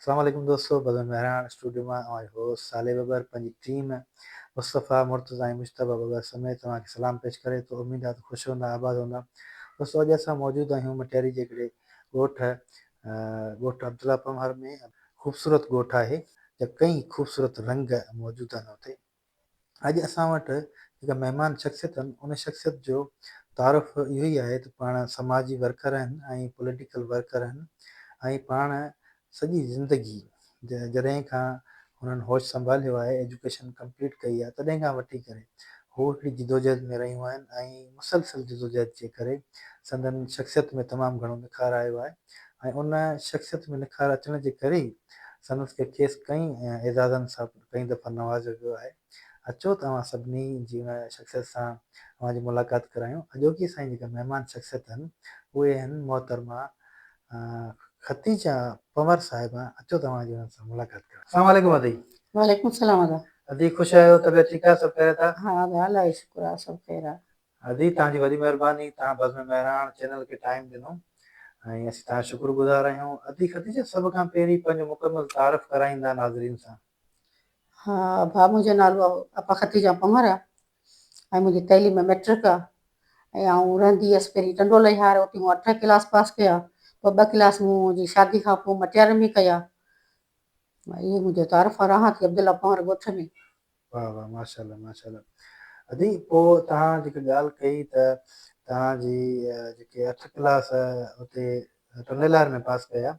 اسلام عليڪم دوستو بزم مهراڻ اسٽوڊيو مان اوهان جو هوسٽ صالح ٻٻر پنهنجي ٽيم مصطفيٰ مرتضيٰ ۽ مجتبيٰ ٻٻر سميت اوهان کي سلام پيش ڪري ٿو اميد آهي ته خوش هوندا آباد هوندا دوستو اڄ اسان موجود آهيون مٽياري جي هڪڙي ڳوٺ ڳوٺ عبدالله پنهور ۾ خوبصورت ڳوٺ آهي جا ڪئين خوبصورت رنگ موجود آهن اتي اڄ اسان وٽ جيڪا مهمان شخصيت آهن ان شخصيت جو تعارف اهو ئي آهي ته پاڻ سماجي ورڪر آهن ۽ پوليٽيڪل ورڪر آهن ۽ پاڻ سڄي زندگي جڏهن کان هنن هوش سنڀاليو آهي ايجوڪيشن ڪمپليٽ ڪئي آهي تڏهن کان وٺي ڪري هو هڪڙي جدوجهد ۾ رهيون آهن ۽ مسلسل جدوجهد جي ڪري سندن شخصيت ۾ تمام گهڻو نکار آيو آهي ۽ ان شخصيت ۾ نکار اچڻ جي ڪري ئي سندس کي کيس ڪئين اعزازن سان ڪئين دفعا نوازيو ويو آهي. اچو ته اوهان سڀني جي ان شخصيت سان اوهان جي ملاقات ڪرايون. اڄوڪي اسان جي جيڪا مهمان شخصيت آهن اهي آهن محترمه ختيجه پنور صاحبه. اچو ته اوهان جي انهن سان ملاقات ڪرايون. السلام عليڪم ادي. وعليڪم السلام ادا. ادي خوش آهيو طبيعت ٺيڪ آهي سڀ خيريت آهي. ها ادا الله جو شڪر آهي سڀ خير آهي. ادي توهان جي وڏي مهرباني توهان بزم مهراڻ چينل کي ٽائيم ڏنو ۽ اسين توهان جا شڪر گذار آهيون ادي خديجه سڀ کان پهرين پنهنجو مڪمل تعارف ڪرائيندا ناظرين سان. ها ڀاء منهنجو نالو اپا خديجه پنهور آ ۽ منهنجي تعليم مئٽرڪ آ ۽ آئون رهندي هيس پهرين ٽنڊو لهيار اتي مون اٺ ڪلاس پاس ڪيا پوء ٻه ڪلاس مون جي شادي کان پوء مٽياري ۾ ڪيا اهي منهنجو تعارف آ رهان ٿي عبدالله پنهور ڳوٺ ۾. واه واه ماشاءالله ماشاءالله ادي پو توهان جيڪا ڳالهه ڪئي ته توهان جي جيڪي اٺ ڪلاس اتي ٽنڊيلار ۾ پاس ڪيا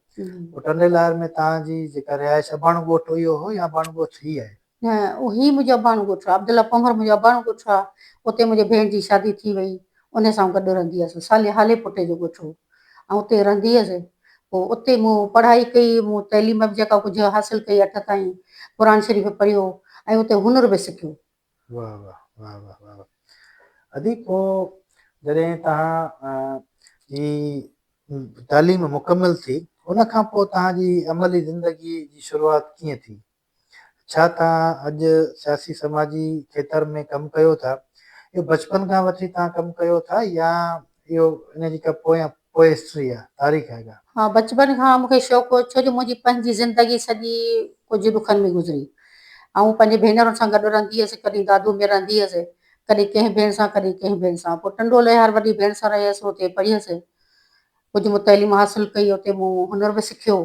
پو ٽنڊيلار ۾ توهان جي جيڪا رهائش اباڻو ڳوٺ اهو هو يا اباڻو ڳوٺ هي آهي نه هي منهنجو اباڻو ڳوٺ آهي عبدالله پونگر منهنجو اباڻو ڳوٺ آهي اتي منهنجي ڀيڻ جي شادي ٿي وئي انهيء سان گڏ رهندي هيس. سالي هالي پٽي جو ڳوٺ هو. آئون اتي رهندي هيس. پوء اتي مون پڙهائي ڪئي. مون تعليم به جيڪا ڪجهه حاصل ڪئي اٺ تائين قرآن شريف پڙهيو ۽ اتي هنر به سکيو. واه واه واه واه واه واه ادي پوء جڏهن توهان جي تعليم مڪمل ٿي ان کان پوء توهان جي عملي زندگي جي شروعات ڪيئن ٿي؟ ڇا توهان اڄ سياسي سماجي کيتر ۾ ڪم ڪيو ٿا؟ اهو بچپن کان وٺي توهان ڪم ڪيو ٿا يا اهو ان جي ڪا پويان پوء هسٽري آهي، تاريخ آهي ڪا؟ ها بچپن کان مون کي شوق هو ڇو جو منهنجي پنهنجي زندگي سڄي ڪجهه ڏکن ۾ گذري. آئون پنهنجي ڀينرن سان گڏ رهندي هيس، ڪڏهن دادو ۾ رهندي هيس، ڪڏهن ڪنهن ڀيڻ سان ڪڏهن ڪنهن ڀيڻ سان. پوء ٽنڊو لهيار وڏي ڀيڻ سان رهيس، اتي پڙهيس. ڪجهه مون تعليم حاصل ڪئي اتي مون هنر به سکيو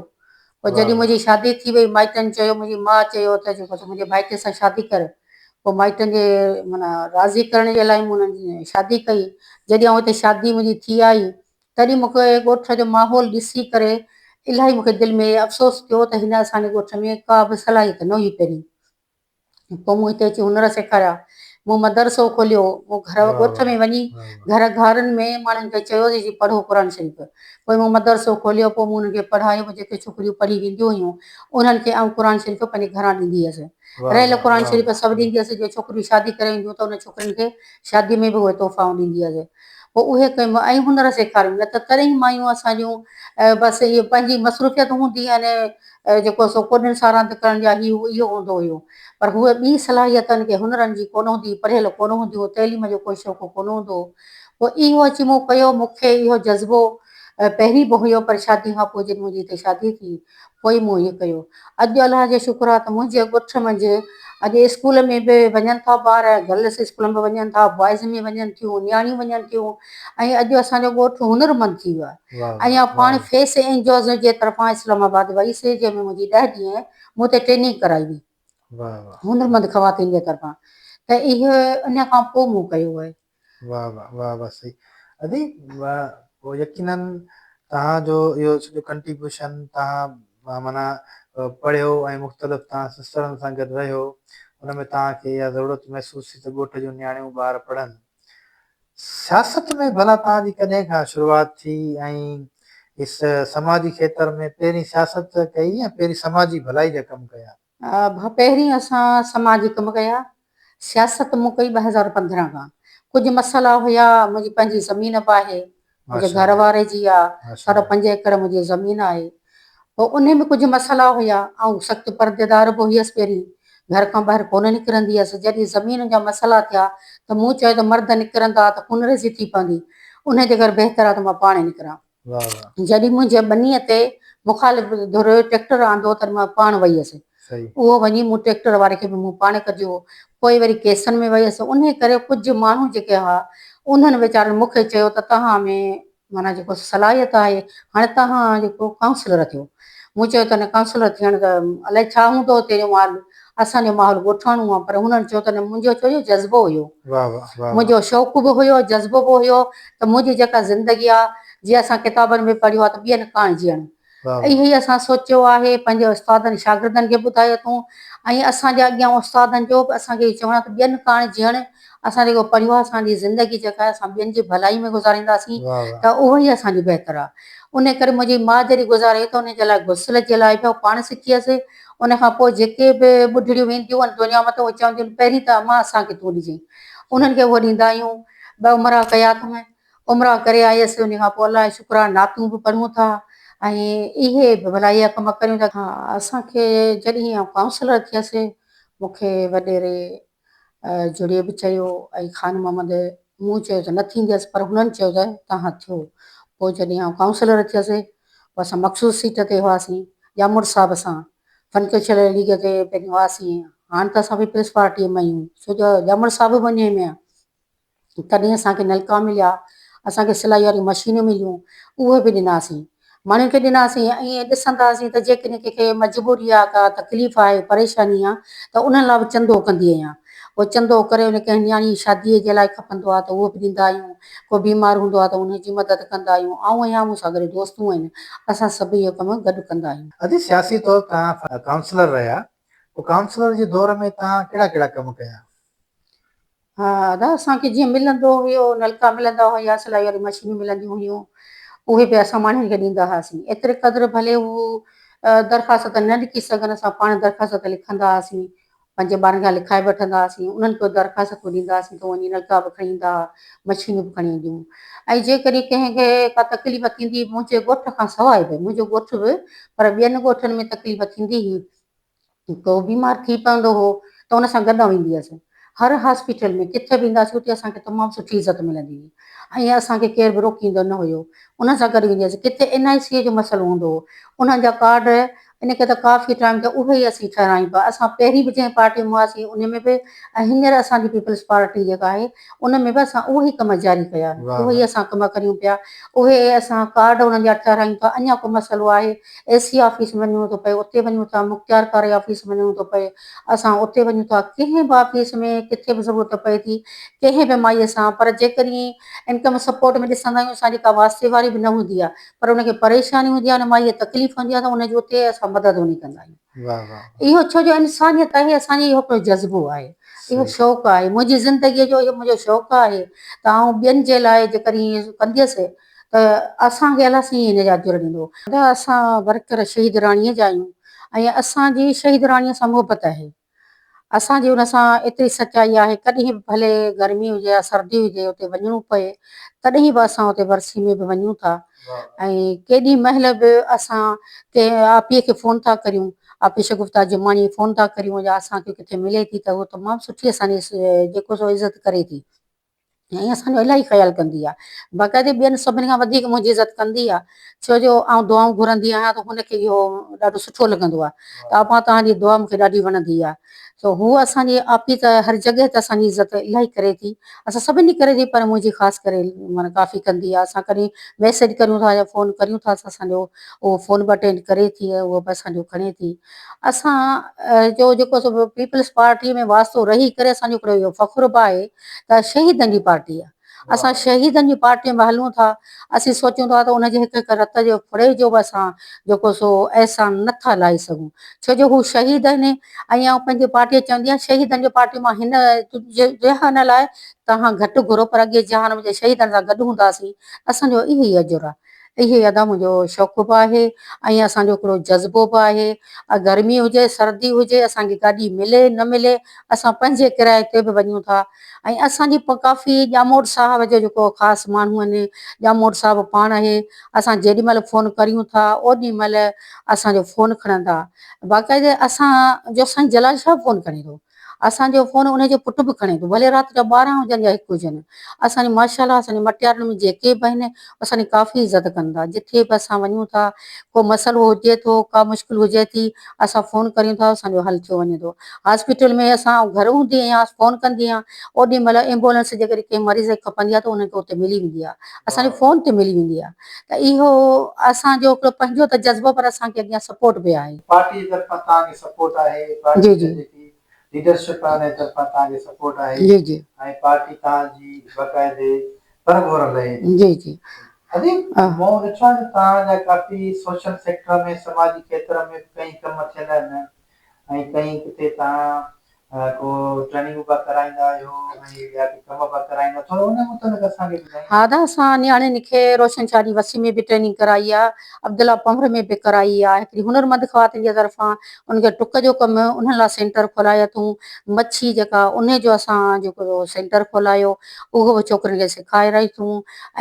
پوء جڏهن منهنجي شادي ٿي وئي مائٽن چيو منهنجي ماء چيو ته جيڪو ته منهنجي ڀائٽي سان شادي ڪر پوء مائٽن جي معنيٰ راضي ڪرڻ جي لاء مون انهن جي شادي ڪئي جڏهن آئون اتي شادي منهنجي ٿي آئي تڏهن مون کي ڳوٺ جو ماحول ڏسي ڪري الاهي مون کي دل ۾ افسوس ٿيو ته هن اسان جي ڳوٺ ۾ ڪا به صلاحيت نه هئي پهرين پوء مون هتي اچي هنر سيکاريا. مون مدرسو کوليو. مون گهر ڳوٺ ۾ وڃي گهر گهارن ۾ ماڻهن کي چيو ته جي پڙهو قرآن شريف. پوء مون مدرسو کوليو. پوء مون انهن کي پڙهايو. پوء جيڪي ڇوڪريون پڙهي وينديون هيون انهن کي آئون قرآن شريف پنهنجي گهران ڏيندي هيس. رهيل قرآن شريف سڀ ڏيندي هيس. جي ڇوڪريون شادي ڪري اينديون ته انهن ڇوڪرين کي شادي ۾ به اهي تحفائون ڏيندي هيس. پوء اهي ڪيم ۽ هنر سيکاريم. نه ته تڏهن مايون اسان جون بس اهي پنهنجي مصروفيت هوندي يعني اهو جيڪو سو ڪوڏن ساراند ڪرڻ جا هي هو اهو هوندو هيو. پر هوء ٻي صلاحيتن ڪي هنرن جي ڪونه هوندي هئي، پڙهيل ڪونه هوندي هو، تعليم جو ڪوئي شوقو ڪونه هوندو هو. پوء اهو اچي مون ڪيو، مون کي اهو جذبو پهرين به هيو پر شادي کان پوء جڏهن منهنجي هتي شادي ٿي پوء ئي مون هي ڪيو. اڄ الله جو شڪر آ ته منهنجي ڳٺ منجهه اڄ اسڪول ۾ به وڃن ٿا ٻار، گرلس اسڪول ۾ به وڃن ٿا، بوائز ۾ وڃن ٿيون، نياڻيون وڃن ٿيون ۽ اڄ اسان جو ڳوٺ هنرمند ٿي ويو آ. ايان پاڻ فيس اينجوز جي طرفان اسلام آباد وئي سي جنهن ۾ منهنجي ڏهه ڏينهن مون تي ٽريننگ ڪرائي وئي هنرمند خواتين جي طرفان ته اهو ان کان پوء مون ڪيو آهي. واھ واھ واھ واھ سھي ادي واھ يقينا توهان جو اهو سڄو ڪنٽريبيوشن توهان معنيٰ پڙهيو ۽ مختلف توهان سسٽرن سان گڏ رهيو ان ۾ توهان کي اها ضرورت محسوس ٿي ته ڳوٺ جون نياڻيون ٻار پڙهن سياست ۾ ڀلا توهان جي ڪڏهن کان شروعات ٿي ۽ سماجي کيتر ۾ پهرين سياست ڪئي يا پهرين سماجي ڀلائي جا ڪم ڪيا؟ ڀا پهرين اسان سماجي ڪم ڪيا، سياست مون ڪئي ٻه هزار پندرهن کان، ڪجهه مسئلا هيا، منهنجي پنهنجي زمين به آهي، منهنجي گهر واري جي آ، ساڍا پنج ايڪڙ منهنجي زمين آهي، پوء انهي ۾ ڪجهه مسئلا هيا، آئون سخت پرديدار به هيس، پهرين گهر کان ٻاهر ڪونه نڪرندي هيس، جڏهن زمين جا مسئلا ٿيا ته مون چيو ته مرد نڪرندا ته خونريزي ٿي پوندي، انهي جي ڪري بهتر آ ته مان پاڻ ئي نڪران، جڏهن منهنجي ٻنيء تي مخالف ڌر ٽريڪٽر آندو تڏهن مان پاڻ وئي هيس، اهو وڃي مون ٽريڪٽر واري کي به مون پاڻ ڪڍيو هو. پوء وري ڪيسن ۾ ويس. انهيء ڪري ڪجهه ماڻهو جيڪي هئا، انهن ويچارن مون کي چيو ته توهان ۾ معنيٰ جيڪو صلاحيت آهي، هاڻي توهان جيڪو ڪائونسلر ٿيو. مون چيو ته نه ڪائونسلر ٿيڻ ته الائي ڇا هوندو اتي جو مال، اسان جو ماحول ڳوٺاڻو آهي. پر هنن چيو ته نه منهنجو چو اهو جذبو هيو. منهنجو شوق به هيو، جذبو به هيو ته منهنجي جيڪا زندگي آهي، جي اسان ڪتابن ۾ پڙهيو آهي ته ٻين ڪاڻ جيئڻ. اهو ئي اسان سوچيو آهي، پنهنجي استادن شاگردن کي ٻڌايو اٿئون ۽ اسان جي اڳيان استادن جو به اسان کي اهو چوڻ آهي ته ٻين ڪاڻ جيئڻ اسان جيڪو پڙهيو آهي اسان جي زندگي جيڪا آهي اسان ٻين جي ڀلائي ۾ گذارينداسين ته اهو ئي اسان جو بهتر آهي انهي ڪري منهنجي ماء جڏهن گذاري ته انهي جي لاء غسل جي لاء به پاڻ سکي هيس انهي کان پوء جيڪي به ٻڍڙيون وينديون هئن دنيا مان ته اهي چونديون هن پهرين ته امان اسان کي تون ڏجين انهن کي اهو ڏيندا آهيون ٻه مرا ڪيا اٿم عمرا ڪري آيس انهي کان پوء الله جي شڪرانه نعتون به پڙهون ٿا ۽ اهي به ڀلائي جا ڪم ڪريون ٿا. ها اسان کي جڏهن آئون ڪائونسلر ٿيس مون کي وڏيري جڙي به چيو ۽ خان محمد مون چيو ته نه ٿينديس پر هنن چيو ته تهان ٿيو پوء جڏهن آئون ڪائونسلر ٿيس پوء اسان مخصوص سيٽ تي هئاسين ڄامڙ صاحب سان فنڪشل ليگ تي پنهنجو هئاسين هاڻ ته اسان پيپلز پارٽي ۾ آهيون ڇو جو ڄامڙ صاحب به انهي ۾ آهي. تڏهن اسان کي نلڪا مليا، اسان کي سلائي واريون مشينون مليون، اهي به ڏناسين. ماڻهن کي ڏناسين ۽ ائين ڏسندا هئاسين ته جيڪڏهن ڪنهن کي مجبوري آ، ڪا تڪليف آهي، پريشاني آ ته انهن لاء به چندو ڪندي آهيان. پوء چندو ڪري ان ڪنهن نياڻي جي شاديء جي لاء کپندو آ ته اهو به ڏيندا آهيون، ڪو بيمار هوندو آ ته ان جي مدد ڪندا آهيون. آئون آهيان، مون سان گڏ دوستون آهن، اسان سڀ اهو ڪم گڏ ڪندا آهيون. اڄ سياسي طور توهان ڪائونسلر رهيا، پوء ڪائونسلر جي دور ۾ توهان ڪهڙا ڪهڙا ڪم ڪيا؟ ها ادا اسان کي جيئن ملندو هيو نلڪا ملندا هيا سلائي واري مشينون ملنديون هيون اهي به اسان ماڻهن کي ڏيندا هئاسين ايتري قدر ڀلي هو درخواست نه لکي سگهن اسان پاڻ درخواست لکندا هئاسين پنهنجي ٻارن کان لکائي وٺندا هئاسين انهن کي درخواست ڏيندا هئاسين ته وڃي نلڪا به کڻي ايندا هئا مشينون به کڻي اينديون ۽ جيڪڏهن ڪنهن کي ڪا تڪليف ٿيندي منهنجي ڳوٺ کان سواء به منهنجو ڳوٺ به پر ٻين ڳوٺن ۾ تڪليف ٿيندي هئي ڪو بيمار ٿي پوندو هو ته ان سان گڏ ويندي هيس. هر هاسپيٽل ۾ ڪٿي به اينداسين اتي اسان کي تمام سٺي عزت ملندي هئي ۽ اسان کي ڪير به روڪيندو نه هيو. انهن سان گڏ ويندي هيس. ڪٿي اين آء سي جو مسئلو هوندو هو انهن جا ڪارڊ ان ڪري ته ڪافي ٽائيم کان اهي ئي اسين ٺهرايون پيا. اسان پهرين به جنهن پارٽي ۾ هئاسين انهي ۾ به ۽ هينئر اسان جي پيپلز پارٽي جيڪا آهي ان ۾ به اسان اهو ئي ڪم جاري ڪيا آهن اهو ئي اسان ڪم ڪريون پيا اهي اسان ڪارڊ انهن جا ٺهرايون ٿا اڃا ڪو مسئلو آهي اي سي آفيس وڃڻو ٿو پئي اتي وڃون ٿا مختيارڪاري آفيس وڃڻو ٿو پئي اسان اتي وڃون ٿا ڪنهن به آفيس ۾ ڪٿي به ضرورت پئي ٿي ڪنهن به مائي سان پر جيڪڏهن انڪم سپورٽ ۾ ڏسندا آهيون اسان جي ڪا واسطي واري به نه هوندي آهي پر ان کي پريشاني هوندي آهي ان مائي کي تڪليف هوندي آهي ته ان جي اتي اسان مدد وڃي ڪندا آهيون. اهو ڇو جو انسانيت آهي اسان جي اهو هڪڙو جذبو آهي اهو شوق آهي منهنجي زندگي جو اهو منهنجو شوق آهي ته آئون ٻين جي لاء جيڪڏهن ائين ڪنديس ته اسان کي الله سائين نجات ضرور ڏيندو. ادا اسان ورڪر شهيد راڻي جا آهيون ۽ اسان جي شهيد راڻي سان محبت آهي. اسان جي ان سان ايتري سچائي آهي ڪڏهن به ڀلي گرمي هجي يا سردي هجي اتي وڃڻو پئي تڏهن به اسان اتي ورسي ۾ به وڃون ٿا ۽ ڪيڏي مهل به اسان ڪنهن آپي کي فون ٿا ڪريون آپي شگفتا جماڻي فون ٿا ڪريون يا اسان کي ڪٿي ملي ٿي ته هو تمام سٺي اسان جي جيڪو سو عزت ڪري ٿي. ۽ اسان جو الاهي خيال ڪندي آهي. باقاعدي ٻين سڀني کان وڌيڪ منهنجي عزت ڪندي آهي، ڇو جو آئون دعائون گهرندي آهيان ته هن کي اهو ڏاڍو سٺو لڳندو آهي ته ابا توهان جي دعا مون کي ڏاڍي وڻندي آهي سو هوء اسان جي آپي ته هر جڳهه ته اسان جي عزت الاهي ڪري ٿي، اسان سڀني جي ڪري ٿي پر منهنجي خاص ڪري معنيٰ ڪافي ڪندي آهي، اسان ڪڏهن ميسيج ڪريون ٿا يا فون ڪريون ٿا ته اسان جو اهو فون به اٽينڊ ڪري ٿي ۽ اهو به اسان جو کڻي ٿي. اسان جو جيڪو پيپلز پارٽي ۾ واسطو رهي ڪري اسان جو هڪڙو اهو فخر به آهي ته شهيدن جي پارٽي آهي اسان شهيدن جي پارٽي ۾ هلون ٿا اسين سوچون ٿا ته ان جي هڪ هڪ رت جي ڦڙي جو به اسان جيڪو سو احسان نه ٿا لاهي سگهون ڇو جو هو شهيد آهن ۽ آئون پنهنجي پارٽي کي چوندي آهيان شهيدن جي پارٽي مان هن جهان لاء توهان گهٽ گهرو پر اڳي جهان ۾ جڏهن شهيدن سان گڏ هوندا هئاسين اسان جو اهو ئي اجر آهي اهي ادا منهنجو شوق به آهي ۽ اسان جو هڪڙو جذبو به آهي گرمي هجي سردي هجي اسان کي گاڏي ملي نه ملي اسان پنهنجي ڪرائي تي به وڃون ٿا ۽ اسان جي ڪافي ڄاموٽ صاحب جو جيڪو خاص ماڻهو آهن ڄاموٽ صاحب پاڻ اهي اسان جيڏي مهل فون ڪريون ٿا اوڏي مهل اسان جو فون کڻن ٿا باقاعدي اسان جو سائين جلال شاهه فون کڻي ٿو اسان جو فون انهي جو پٽ به کڻي ٿو ڀلي رات جا ٻارهن هجن يا هڪ هجن. اسان جي ماشاءالله اسان جي مٽيارن ۾ جيڪي به آهن اسان جي ڪافي عزت ڪن ٿا جٿي به اسان وڃون ٿا ڪو مسئلو هجي ٿو ڪا مشڪل هجي ٿي اسان فون ڪريون ٿا اسان جو حل ٿيو وڃي ٿو هاسپيٽل ۾ اسان آئون گهر هوندي آهيان فون ڪندي آهيان اوڏي مهل ايمبولنس جيڪڏهن ڪنهن مريض کي کپندي آهي ته انهن کي اتي ملي ويندي آهي اسان جي فون تي ملي ويندي آهي. ته اهو اسان جو هڪڙو پنهنجو ته جذبو پر اسان کي اڳيان سپورٽ به آهي. پارٽي جي طرفان توهان کي سپورٽ آهي پارٽي جي جي جيڪي ليڊرشپ آهي ان جي طرفان توهان کي سپورٽ آهي جي جي ۽ پارٽي توهان جي باقاعدي پر گهور لهي ٿي جي جي اديب مون ڏٺو آهي ته توهان جا ڪافي سوشل سيڪٽر ۾ سماجي کيتر ۾ به ڪئين ڪم ٿيل آهن ۽ ڪئين ڪٿي تان ڪو ٽريننگ به ڪرائيندا آهيو ۽ ٻيا ڪي ڪم به ڪرائيندا آهيو ٿورو ان متعلق اسان کي ٻڌايو. ها دا اسان نياڻين کي روشن شاهه جي وسيم ۾ به ٽريننگ ڪرائي آ عبدالله پنهور ۾ به ڪرائي آ هڪڙي هنر مند خواتين جي طرفان ان کي ٽڪ جو ڪم انهن لاء سينٽر کولائي اٿون مڇي جيڪا انهي جو اسان جيڪو سينٽر کولائيو اهو به ڇوڪرين کي سيکاري رهي اٿون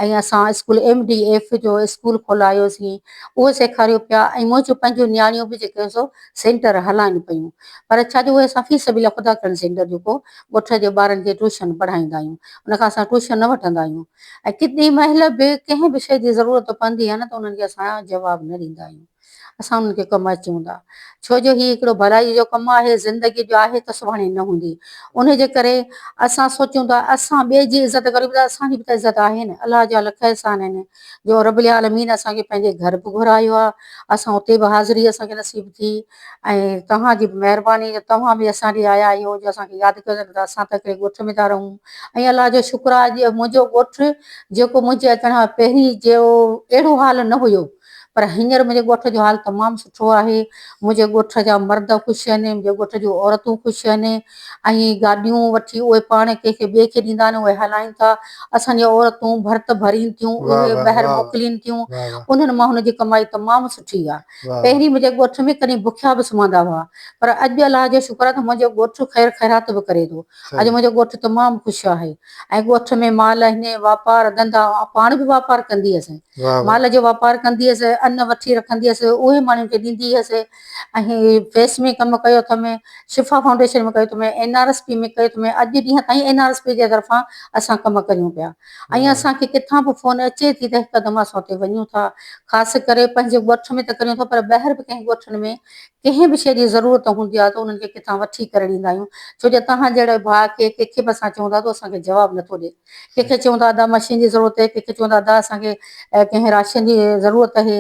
۽ اسان اسڪول ايم ڊي ايف جو اسڪول کولائيو سين اهو سيکاريو پيا ۽ منهنجو پنهنجو نياڻيون به جيڪي سو سينٽر هلائن پيون پر ڇا جو اهي اسان في سبيل خدا ڪرڻ سينٽر جيڪو ڳوٺ جي ٻارن کي ٽيوشن پڙهائيندا آهيون ان کان اسان ٽيوشن نه وٺندا آهيون ۽ ڪتي مهل به ڪنهن به شيء جي ضرورت پوندي آهي نه ته انهن کي اسان جواب نه ڏيندا آهيون اسان انهن کي ڪم اچون ٿا ڇو جو هي هڪڙو ڀلائي جو ڪم آهي زندگي جو آهي ته سڀاڻي نه هوندي انهي جي ڪري اسان سوچون ٿا اسان ٻئي جي عزت ڪريون ته اسان جي به ته عزت آهي نه الله جا لک احسان آهن جو رب العالمين اسان کي پنهنجي گهر به گهرايو آ اسان اتي به حاضري اسان کي نصيب ٿي ۽ توهان جي به مهرباني جو توهان به اسان ڏي آيا آهيو جو اسان کي ياد ڪيو نه ته اسان ته هڪڙي ڳوٺ ۾ ٿا رهون ۽ الله جو شڪر آ جو منهنجو ڳوٺ جيڪو منهنجي اچڻ کان پهرين جو اهڙو حال نه هيو پر هينئر منهنجي ڳوٺ جو حال تمام سٺو آهي منهنجي ڳوٺ جا مرد خوش آهن منهنجي ڳوٺ جون عورتون خوش آهن ۽ گاڏيون وٺي اهي پاڻ ڪنهن کي ٻئي کي ڏيندا آهن اهي هلائين ٿا اسان جون عورتون ڀرت ڀرين ٿيون اهي ٻاهر موڪلين ٿيون انهن مان هن جي ڪمائي تمام سٺي آهي پهرين منهنجي ڳوٺ ۾ ڪڏهن بکيا به سمهندا هئا پر اڄ الله جو شڪر آهي ته منهنجو ڳوٺ خير خيرات به ڪري ٿو اڄ منهنجو ڳوٺ تمام خوش آهي ۽ ڳوٺ ۾ مال هني واپار ڌنڌا آئون پاڻ به واپار ڪندي هيس مال جو واپار ڪندي هيس ان وٺي رکندي هيس اهي ماڻهن کي ڏيندي هيس اهي فيس ۾ ڪم ڪيو اٿم، شفا فائونڊيشن ۾ ڪيو اٿم، اين آر ايس پي ۾ ڪيو اٿم، اڄ جي ڏينهن تائين اين آر ايس پي جي طرفان اسان ڪم ڪريون پيا ۽ اسان کي ڪٿان به فون اچي ٿي ته هڪدم اسان اتي وڃون ٿا، خاص ڪري پنهنجي ڳوٺ ۾ ته ڪريون ٿا پر ٻاهر به ڪنهن ڳوٺن ۾ ڪنهن به شيء جي ضرورت هوندي آهي ته انهن کي ڪٿان وٺي ڪري ڏيندا آهيون ڇو جو توهان جهڙو ڀاء کي ڪنهن کي به اسان چئون ٿا ته اسان کي جواب نٿو ڏي. ڪنهن کي چيون ته ادا مشين جي ضرورت آهي، ڪنهن کي چيون ته ادا اسان کي ڪنهن راشن جي ضرورت آهي،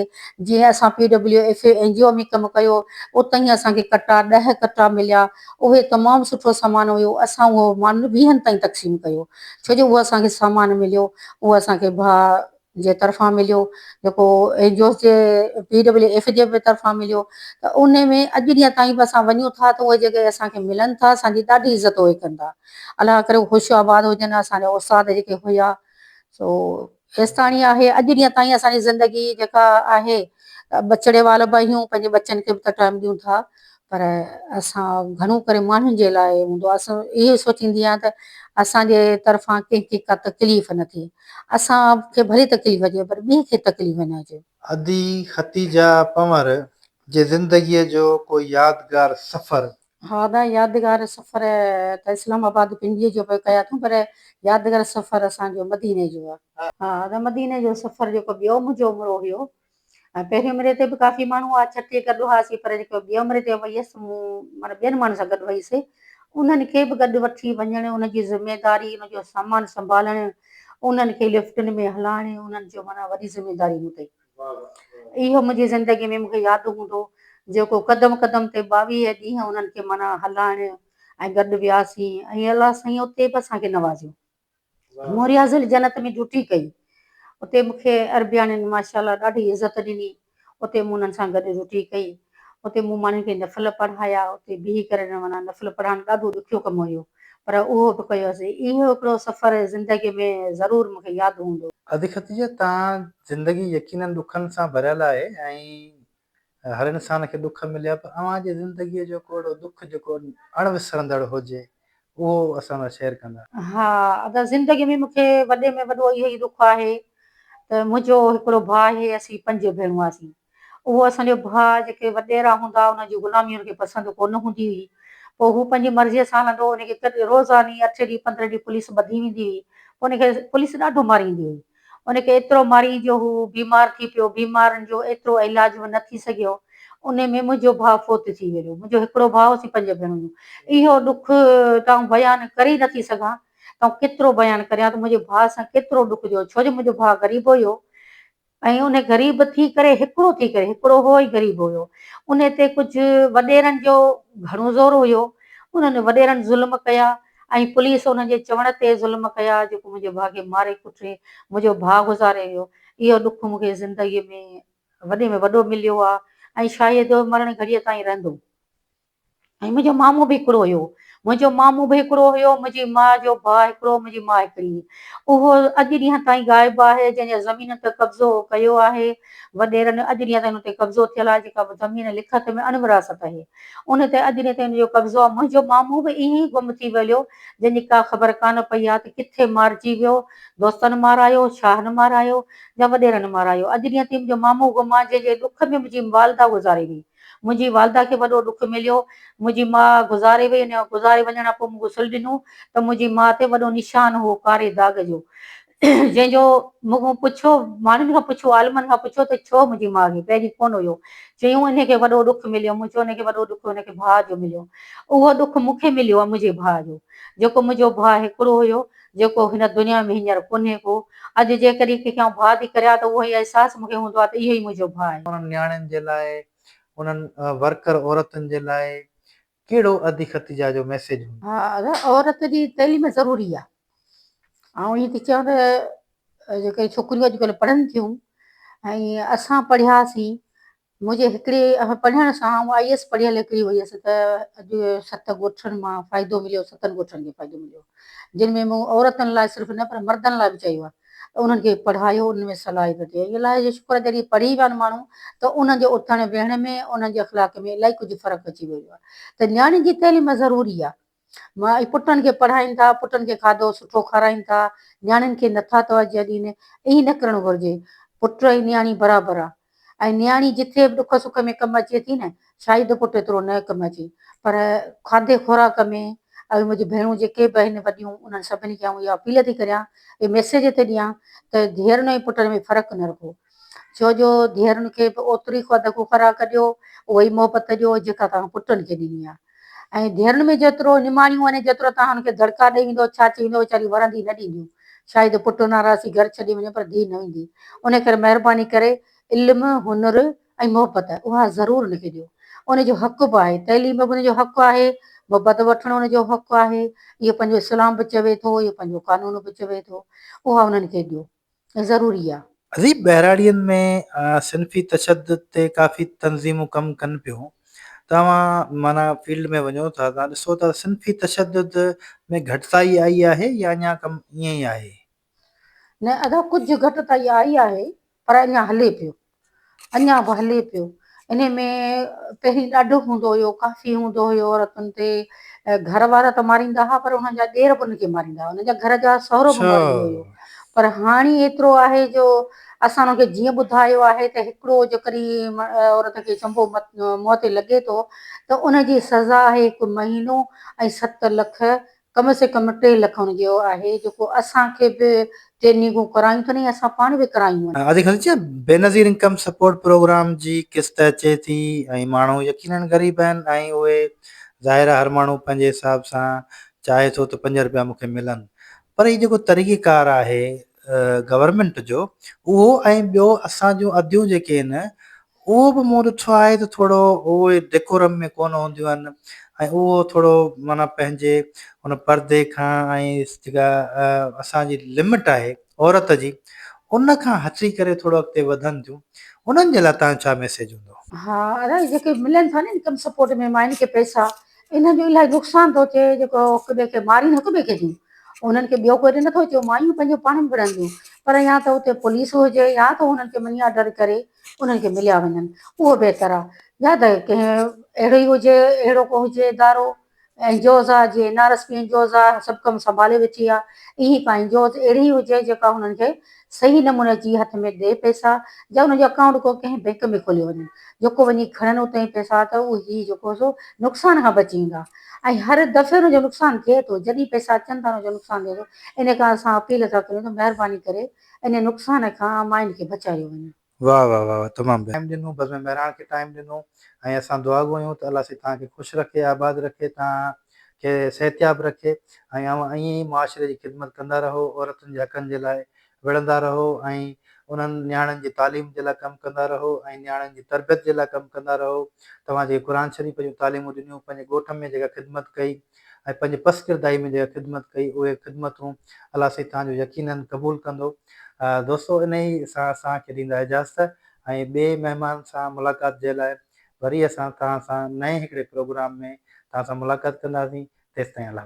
جيئن اسان P W F A N G O ۾ ڪم ڪيو اتهين اسان کي ڪٽا ڏهه ڪٽا مليا اهي تمام سٺو سامان هيو اسان اهو ماڻهن ويهن تائين تقسيم ڪيو ڇو جو اهو اسان کي سامان مليو اهو اسان کي ڀاء جي طرفان مليو جيڪو اين جي اوز جي پي ڊبليو ايف جي به طرفان مليو ته ان ۾ اڄ ڏينهن تائين به اسان وڃون ٿا ته اهي جيڪي اسان کي ملن ٿا اسان جي ڏاڍي عزت اهي ڪن ٿا الله ڪري هو خوش آباد هجن اسان جا استاد جيڪي هيا سو ايستاڻي آهي اڄ ڏينهن تائين اسان جي زندگي جيڪا آهي ٻچڙي وال به آهيون پنهنجي ٻچن کي به ته ٽائيم ڏيون ٿا پر اسان گهڻو ڪري ماڻهن جي لاء هوندو آهي اسان اهو سوچيندي آهيان ته اسان جي طرفان ڪنهن کي ڪا تڪليف نه ٿئي اسان کي ڀلي تڪليف اچي پر ٻئي کي تڪليف نه اچي. ادي ختيجه پنور جي زندگيء جو ڪو يادگار سفر؟ ها ادا يادگار سفر ته اسلام آباد پنڊيء جو به ڪيا اٿم پر يادگار سفر اسان جو مديني جو آهي. ها ادا مديني جو سفر جيڪو ٻيو منهنجو عمرو هيو ۽ پهرين عمري تي به ڪافي ماڻهو هئا، ڇٺي گڏ هئاسين، پر جيڪي ٻي عمري تي ويس، مون معنيٰ ٻين ماڻهن سان گڏ ويس، انهن کي به گڏ وٺي وڃڻ، انهن جي ذميواري، انهن جو سامان سنڀالڻ، انهن کي لفٽن ۾ هلائڻ، انهن جو معنيٰ وڏي ذميواري مون تي هئي. اهو منهنجي زندگيء ۾ مون کي ياد هوندو، جيڪو قدم قدم تي ٻاويهه ڏينهن انهن کي معنيٰ هلائڻ ۽ گڏ وياسين ۽ الله سائين اتي به اسان کي نوازيو. مون رياض الجنت ۾ ڊيوٽي ڪئي. اتي مون کي عربياڻين ماشاء الله ڏاڍي عزت ڏني. اتي مون انهن سان گڏ ڊيوٽي ڪئي. اتي مون ماڻهن کي نفل پڙهايا. اتي بيهي ڪري معنيٰ نفل پڙهائڻ ڏاڍو ڏکيو ڪم هيو. پر اهو به ڪيو سي. اهو هڪڙو سفر زندگي ۾ ضرور مون کي ياد هوندو. ادي ختيجه تان زندگي يقينن ڏکن سان ڀريل آهي ۽ هر انسان کي ڏک مليا پر اوهان جي زندگي جو ڪو اهڙو ڏک جيڪو اڻ وسرندڙ هجي اهو اسان سان شيئر ڪندا. ها ادا زندگي ۾ مون کي وڏي ۾ وڏو اهو ئي ڏک آهي ته منهنجو هڪڙو ڀاء آهي اسين پنج ڀيڻون هئاسين اهو اسان جو ڀاء جيڪي وڏيرا هوندا انهن جي غلامي هن کي پسند ڪونه هوندي هئي پوء هو پنهنجي مرضي سان هلندو هو ان کي روزاني اٺ ڏينهن پندرهن ڏينهن پوليس ٻڌي ويندي هئي پوء ان کي پوليس ڏاڍو ماريندي هئي ان کي ايترو مارئي جو هو بيمار ٿي پيو، بيمارن جو ايترو علاج به نه ٿي سگهيو، انهي ۾ منهنجو ڀاء فوت ٿي ويو، منهنجو هڪڙو ڀاء اسين پنج ڀيڻيون، اهو ڏک تون بيان ڪري نه ٿي سگهان، تون ڪيترو بيان ڪريان ته منهنجي ڀاء سان ڪيترو ڏک جو هو، ڇو جو منهنجو ڀاء غريب هيو ۽ انهي غريب ٿي ڪري هڪڙو ٿي ڪري هڪڙو هو ۽ غريب هيو، انهي تي ڪجهه وڏيرن جو گهڻو زور هيو، انهن وڏيرن ظلم ڪيا، ۽ پوليس انهن جي چوڻ تي ظلم ڪيا جيڪو منهنجي ڀاء کي ماري ڪٽي منهنجو ڀاء گذاري ويو اهو ڏک مون کي زندگي ۾ وڏي ۾ وڏو مليو آهي ۽ شايد اهو مرڻ گهڙيء تائين رهندو. ۽ منهنجو مامو به هڪڙو هيو منهنجو مامو به هڪڙو هيو منهنجي ماء جو ڀاء هڪڙو منهنجي ماء هڪڙي اهو اڄ ڏينهن تائين غائب آهي جنهن جا زمينن تي قبضو ڪيو آهي وڏيرن اجريء تي ان تي قبضو ٿيل آهي، جيڪا به زمين لکت ۾ اڻ وراثت آهي. ان تي اجريء تي ان جو قبضو آهي. منهنجو مامو به ائين ئي گم ٿي ويليو، جنهن جي ڪا خبر ڪانه پئي آهي ته ڪٿي مارجي ويو، دوستن مارايو، شاهن مارايو يا وڏيرن مارايو. اجريء تي منهنجو مامو گم آهي، جنهن جي ڏک ۾ منهنجي والده گذاري وئي. منهنجي والده کي وڏو ڏک مليو. منهنجي ماء گذاري وئي. ان گذاري وڃڻ کان پوء مون کي سلهه ڏنو ته منهنجي ماء تي وڏو نشان هو ڪاري داغ جو. جنهن جو مون کان پڇو، ماڻهن کان پڇو، عالمن کان پڇو ته ڇو منهنجي ماء کي پهرين ڪونه هيو؟ چيون انهي کي وڏو ڏک مليو، مون چيو انهي کي وڏو ڏک هن کي ڀاء جو مليو. اهو ڏک مون کي مليو آهي منهنجي ڀاء جو، جيڪو منهنجو ڀاء هڪڙو هيو، جيڪو هن دنيا ۾ هينئر ڪونهي ڪو. اڄ جيڪڏهن ڪنهن کي آئون ڀاء ٿي ڪريان ته اهو ئي احساس مون کي هوندو آهي ته اهو ئي منهنجو ڀاء آهي. انهن نياڻين جي لاء، انهن ورڪر عورتن جي لاء، ڪهڙو عهدي خط جا جو ميسيج هوندو. ها هر عورت جي تعليم ضروري آ آئون ائين ٿي چوان ته جيڪي ڇوڪريون اڄڪلهه پڙهن ٿيون ۽ اسان پڙهياسين منهنجي هڪڙي پڙهڻ سان آئون آئي ايس پڙهيل هڪڙي هيس ته اڄ ست ڳوٺن مان فائدو مليو ستن ڳوٺن کي فائدو مليو جن ۾ مون عورتن لاء صرف نه پر مردن لاء به چيو آ ته انهن کي پڙهايو انهن ۾ صلاحيت هجي ان لاء جو شڪر آهي جڏهن پڙهي ويا آهن ماڻهو ته انهن جي اٿڻ ويهڻ ۾ انهن جي اخلاق ۾ الائي ڪجهه فرق اچي ويو آهي ته نياڻين جي تعليم ضروري آهي ماء پٽن کي پڙهائين ٿا پٽن کي کاڌو سٺو کارائين ٿا نياڻين کي نٿا توجهه ڏين ائين نه ڪرڻ گهرجي پٽ ۽ نياڻي برابر آهي ۽ نياڻي جيتري به ڏک سک ۾ ڪم اچي ٿي نه، شاهد پٽ ايترو نه ڪم اچي، پر کاڌي خوراڪ ۾ اهي منهنجون ڀيڻون جيڪي به آهن وڏيون، انهن سڀني کي آئون اها اپيل ٿي ڪريان، اهي ميسيج ٿي ڏيان ته ڌيئرن ۽ پٽن ۾ فرق نه رکو، ڇو جو ڌيئرن کي به اوتري خو ادڪو خوراڪ ڏيو، اهو ئي محبت ڏيو، جيڪا توهان پٽن کي ڏني آهي. ۽ ڌيئرن ۾ جيترو نماڻيون وڃي، جيترو تان هن کي دڙڪا ڏئي ويندو، ڇاڇي ويندو، ويچاريون ورندي نه ڏينديون. شايد پٽ ان آراسي گهر ڇڏي وڃي، پر ڌيء نه ويندي. انهيء ڪري مهرباني ڪري علم، هنر ۽ محبت، اها ضرور هن کي ڏيو. ان جو حق به آهي. تعليم به ان جو حق آهي. محبت وٺڻ ان جو حق آهي. اهو پنهنجو اسلام به چوي ٿو، اهو پنهنجو قانون به چوي ٿو. اها انهن کي ڏيو. ضروري آ. اديب ٻهراڙين ۾ صنفي تشدد تي ڪافي تنظيمون ڪم ڪن پيون توهان معنيٰ فيلڊ ۾ وڃو ٿا توهان ڏسو ٿا صنفي تشدد ۾ گهٽتائي آئي آهي يا اڃا ڪم ائين ئي آهي؟ نه ادا ڪجهه گهٽتائي آئي آهي پر اڃا هلي پيو. اڃا به هلي پيو. انهي ۾ پهرين ڏاڍو هوندو هيو، ڪافي هوندو هيو عورتن تي. گهر وارا ته ماريندا ها پر انهن جا ڏير به انهن کي ماريندا ها. انهن جا گهر جا سهرو به اڇا ماريندو هيو. پر هاڻي ايترو آهي جو اسان انهن کي جيئن ٻڌايو آهي ته هڪڙو جيڪڏهن عورت کي چنبو منهن تي لڳي ٿو ته ان جي سزا آهي هڪ مهينو ۽ ست لک ڪم سي ڪم ٽي لک ان جيو آهي جيڪو اسان کي به ٽي نيگون ڪرايون ٿن ۽ اسان پاڻ به ڪرايون آهن. آزي خليجي جي بينظير انڪم سپورٽ پروگرام جي قسط اچي ٿي ۽ ماڻهو يقينن غريب آهن ۽ اهي ظاهر آهي هر ماڻهو پنهنجي حساب سان چاهي ٿو ته پنج رپيا مون کي ملن پر هي جيڪو طريقي ڪار آهي گورنمينٽ جو اهو ۽ ٻيو اسان جون اديون جيڪي آهن اهو به مون ڏٺو آهي ته ٿورو اهي ڊيڪورم ۾ ڪونه هونديون آهن ۽ اهو ٿورو معنيٰ پنهنجي ان پردي کان ۽ جيڪا اسان جي لمٽ آهي عورت جي ان کان هٽي ڪري ٿورو اڳتي وڌن ٿيون انهن جي لاء تنهنجو ڇا ميسيج هوندو؟ ها الائي جيڪي ملن ٿا نه انڪم سپورٽ ۾ ماين کي پئسا انهن جو الائي نقصان ٿو ٿئي جيڪو هڪ ٻئي کي مارين هڪ ٻئي کي ٿيون انهن کي ٻيو ڪوئي ته نٿو چئون مايون پنهنجو پاڻ وڙهنديون پر يا ته اتي پوليس هجي يا ته انهن کي مني آرڊر ڪري انهن کي مليا وڃن اهو بهتر آهي يا ته ڪنهن اهڙو ئي هجي اهڙو ڪو هجي ادارو اين جي اوز آهي جيئن N R S P N G Os آهي سڀ ڪم سنڀالي ويٺي آهي ائين ڪا اين جي اوز اهڙي هجي جيڪا انهن کي صحيح نموني جي هٿ ۾ ڏي پئسا يا انهن جو اڪائونٽ ڪو ڪنهن بئنڪ ۾ کوليو وڃي جيڪو وڃي کڻن اتان ئي پئسا ته اهي جيڪو سو نقصان کان بچي ويندا ۽ هر دفعي انهن جو نقصان ٿئي ٿو جڏهن پئسا اچن ٿا انهن جو نقصان ٿئي ٿو ان ڪرڻ سان اپيل ٿا ڪريون ته مهرباني ڪري انهي نقصان کان مائن کي بچايو وڃي. واه واه واه واه تمام بهترين. ٽائيم ڏنو بزم مهراڻ کي ٽائيم ڏنو ۽ اسان دعا گهريون ته الله سائين توهان کي خوش رکي آباد رکي توهان کي صحتياب رکي ۽ اوهان ائين ئي معاشري جي خدمت ڪندا رهو عورتن جي حقن جي لاء وڙهندا رهو ۽ انهن نياڻين جي تعليم جي لاء ڪم ڪندا رهو ۽ نياڻين جي تربيت جي لاء ڪم ڪندا رهو توهان جيڪي قرآن شريف جون تعليمون ڏنيون پنهنجي ڳوٺ ۾ جيڪا خدمت ڪئي ۽ پنهنجي پست ڪرداري ۾ جيڪا خدمت ڪئي اهي خدمتون الله سائين توهان جون يقيناً قبول ڪندو. دوستو انهي سان اسان کي ڏيندا اجازت ۽ ٻئي مهمان سان ملاقات جي لاء وري اسان توهان سان نئين هڪڙي پروگرام ۾ توهان سان ملاقات ڪنداسين تيستائين الله.